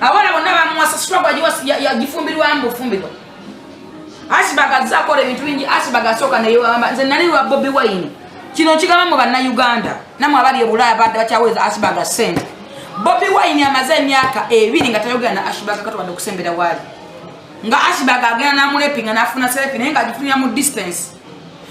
abana bonna bamuwasa struggle yagifumbirwa mu bufumbirwa asibag azze akola ebintu bingi asibag asooka neyewamba nze nali lwa bobi wine kino nkigamba mu bannayuganda namwe abali ebulaaya badde bakyaweza asibag sente bobi wine amaze emyaka ebiri nga tayogera na asibag katwade okusembera waali nga asibag agenda namulepinga nafuna selefi naye nga agifunira mu distance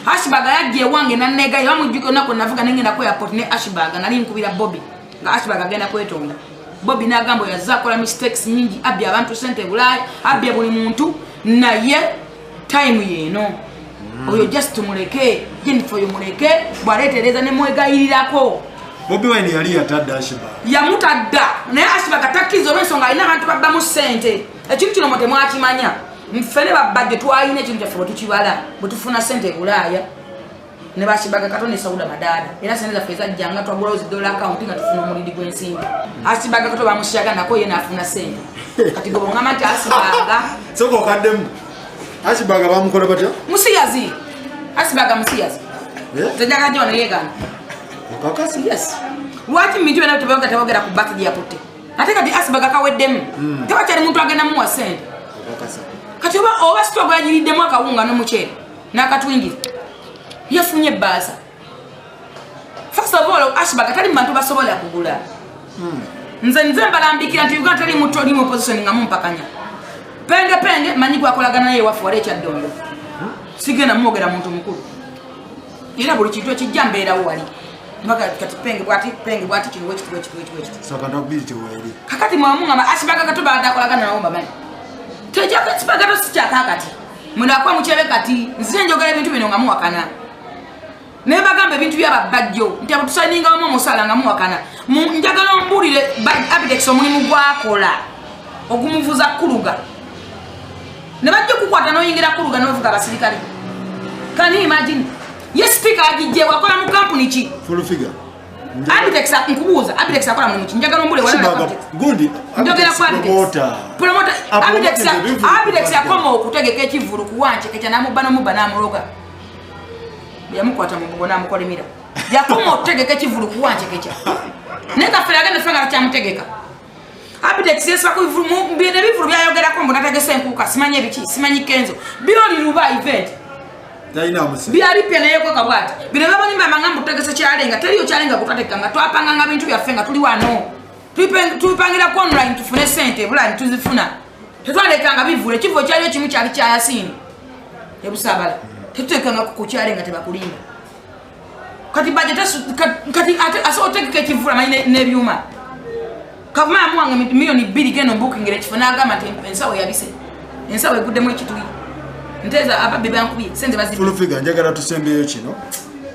asibag yajja ewange nanegayo bamujjuka onaku navuga nengenda ku airport ne asibag nali nkubira bobi nga asibag agenda kwetonda bobi nagamba oyo azze akola mistakes nyingi abbya abantu sente ebulaaya abbya buli muntu naye time yeeno mm. oyo just tumuleke jenifa oyo muleke bwaleetereza nemwegayirirako bobi wine yali yatadda ashiba yamutadda naye ashiba katakkiriza olwensonga alina abantu babbamu sente ekintu kino mwe temwakimanya nfene babbadde twalina ekintu kyaffe bwetukibala bwetufuna sente ebulaaya ne bakibaga kato ne sauda madada era sente zaffe ezajja nga twagulawo zidola akawunti nga tufuna omulidi gw'ensimbi asibaga kato bamusiyaga nako ye naafuna sente kati gwe bongamba nti asibaga soka okaddemu asibaga bamukola batya musiyazi asibaga musiyazi eh? zajagajo neyegana okakasi yes lwaki mubintu byona tebyoga tebogera ku baki gyeyakutte ate kati asibaga kaweddemu hmm. tebakyali muntu agenda muwa sente kati oba sitogwagiriddemu akawunga n'omuceere nakatwingire yafunye ebbaasa fasobola ashbaga tali mubantu basobola kugula hmm. nze nze mbalambikira nti uganda tali muto oli mupositioni nga mumpakanya penge penge manyi gwakolagana naye waffe wali ekyaddondo hmm? sigenda mwogera muntu mukulu era buli kintu ekijja mbeerawo wali kakati mwamuama ashbaga katubaadakolagana nawo mbamanyi tejakasibagato sikyakakati munakwa mukyebe kati nzire njogera ebintu bino nga muwakana naye bagamba ebintu byababajjo nti abutusaninga wamu omusala nga muwakana njagala omubuulire abidex omulimu gwakola ogumuvuza kuluga ne bajja okukwata noyingira kuluga novuga abasirikale kani imagine ye sipiika agijjewa akola mu kampuni ki Abitex nkubuuza Abitex akola mulimu ki njagala ombule wala Abitex gundi njogera kwa Abitex promoter Abitex Abitex akoma okutegeka ekivulu kuwanje ekya namubba nomubba namuloga yamukwata mu bugona amukolimira yakoma okutegeka ekivulu kuwanje ekya naye kafere agenda fanga akyamutegeka updates yesibako ebivulu byayogerako mbu nategese enkuuka simanyi ebiki simanyi kenzo byoli luba event byalipya nayekoka bwati bino byabalimama nga mbutegese kyalenga teriyo kyalenga kutwatekka nga twapanga nga bintu byaffe nga tuli wano tubipangira ku online tufune sente ebulani tuzifuna tetwalekanga bivulu ekivuo kyaliyo kimu kyali kyayasiini ebusabala tetutekanga kukukyalenga tebakulimba kati baje kati ase otegeka ekivula manyi nebyuma kavuma yamuwanga miliyoni bbiri geno bukingera ekifo nagamba nti ensawo yabise ensawo eguddemu ekituli nteza ababbi bankubye sente bazifulufiga njagala tusembeyo kino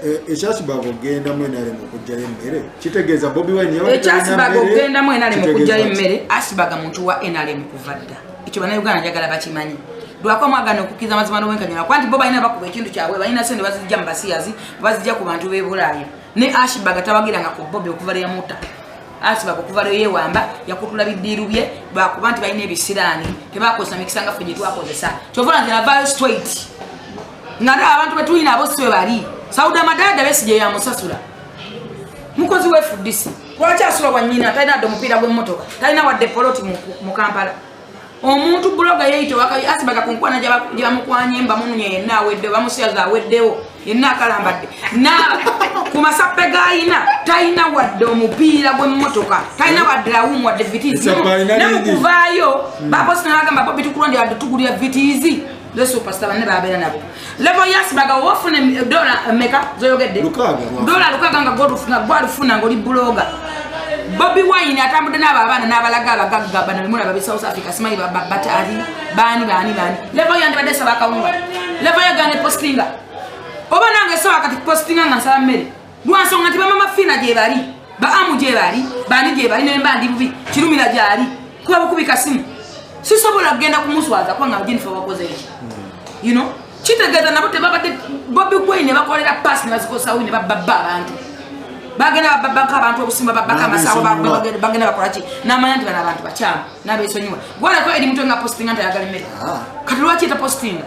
e, ekyasibaga okugenda mwenale mukujjayo emmere kitegeeza bobi wine ekyasibaga okugenda mwenale mukujjayo emmere asibaga muntu wa nrm kuva dda ekyo banauganda njagala bakimanyi lwako mwagana okukiriza amazima n'obwenkanyala kuba nti bo balina bakuba ekintu kyabwe balina sente bazijja mu basiyazi bazijja ku bantu b'ebulaaya ne ashibaga tabagiranga ku bobi okuva lwe yamuta asibaga okuva lwe yewamba yakutula bidiiru bye lwakuba nti balina ebisiraani tebakozesa mikisa nga ffe gye twakozesa kyova nti navayo straight nga ndaba abantu be tulina abo si bwe bali sauda madada besi gye yamusasula mukozi wefudisi lwaki asula wanyina talina adde omupiira gw'emmotoka talina wadde poloti mu kampala omuntu buloga yeyita wakabi asibaga ku nkwana gyebamukwanye mbamununya yenna aweddewo bamusiyaza aweddewo yenna akalambadde na ku masappe gayina talina wadde omupiira gw'emmotoka talina wadde lawumu wadde vitiizi ne mu kuvaayo hmm. baposi nabagamba bobi tukulonde wadde tugulira vitiizi the superstar banne babeera nabo level yas baga wofuna dola meka zoyogedde dola lukaga nga godufuna gwalufuna ngoli buloga bobi wine atambudde n'abo abaana n'abalaga abagagga bana bemula babe south africa simanyi babata ali baani baani baani level yandi badde saba akawunga level yagane postinga oba nange soba kati postinga nga nsaba mmere lwansonga nti bamama fiina gyebali baamu gyebali bani gyebali nemba ndi bubi kirumira gyali kuba bukubika simu sisobola kugenda kumuswaza kubanga jennifer wakoze eki you know kitegeeza nabo tebabadde bobi gwei ne bakolera paasi ne bazikozesa wini bababba abantu bagenda bababaka abantu obusimba babaka amasawo bagenda bakolaki namanya nti bano abantu bakyamu nabesonyiwa gwalako eri mutwe nga postinga nti ayagala emmere ah. kati lwaki eta postinga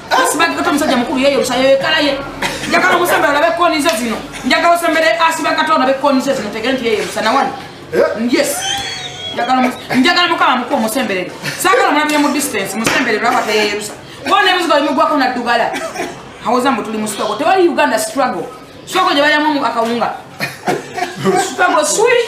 asibagi kata omusajja mukulu yeyo lusayo yekalaye njagala omusembere olabe ekkooni ze zino njagala osembere asiba kata olabe ekkooni ze zino tegere nti yeyo lusa nawani eh? yes njagala mukama muku omusemberere sagala omulabire mu distance musembere lwaba teyeyerusa bona ebizigo bimugwako naddugala awoza mbu tuli mu struggle tewali uganda struggle struggle gye balyamu akawunga struggle sweet